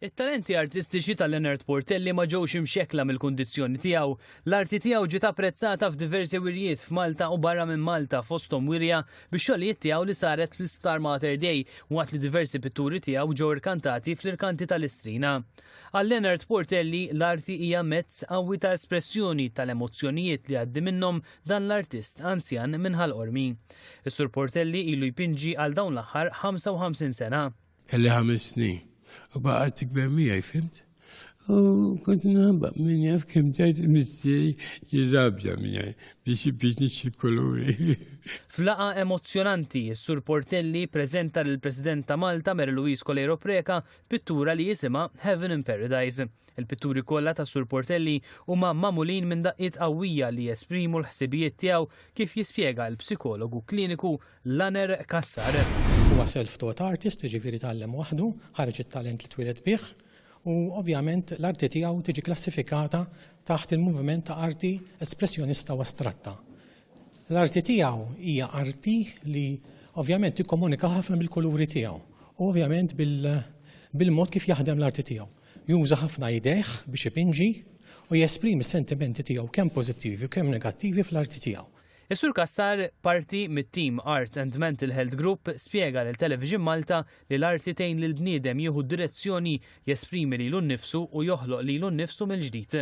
It-talenti artistiċi ta' Leonard Portelli ma ġewx imxekkla mill-kundizzjoni tiegħu. L-arti tiegħu ġiet apprezzata f'diversi wirjiet f'Malta u barra minn Malta, fosthom wirja bix-xogħlijiet tiegħu li saret fl-Isptar Mater Dei, waqt li diversi pitturi tiegħu ġew irkantati fl-irkanti ta' Listrina. Għal Leonard Portelli, l-arti hija mezz qawwi ta' espressjoni tal-emozzjonijiet li jgħaddi minnhom dan l-artist anzjan minn Ħal Qormi. Is-Sur Portelli ilu jpinġi għal dawn l-aħħar 55 sena. Kelli ħames snin. U baqgħet tikber miegħi, fimt? U kont nħabba minn jaf kem ġajt missieri jirrabja miegħi biex biex nixxi koluri. Flaqa emozzjonanti, s-Sur Portelli preżenta lill President ta' Malta Mary Louise Coleiro Preca pittura li jisimha Heaven in Paradise. Il-pitturi kollha tas-Sur Portelli huma magħmulin minn daqqiet qawwija li jesprimu l-ħsibijiet tiegħu kif jispjega l-psikologu kliniku Laner Cassar. Huwa self-taught artist, jiġifieri tgħallem waħdu, ħareġ it-talent li twieled bih u ovvjament l-arti tiegħu tiġi klassifikata taħt il-moviment ta' arti espressjonista u astratta. L-arti tiegħu hija arti li ovvjament tikkomunika ħafna bil-kuluri tiegħu u ovvjament bil-mod kif jaħdem l-arti tiegħu. Juża ħafna idejh biex ipinġi u jesprimi s-sentimenti tiegħu kemm pożittivi u kemm negattivi fl-arti tiegħu. Is-Sur Cassar, parti mit-tim Art and Mental Health Group, spjega lil Television Malta li l-arti tgħin lill-bniedem jieħu direzzjoni, jesprimi lilu nnifsu u joħloq lilu nnifsu mill-ġdid.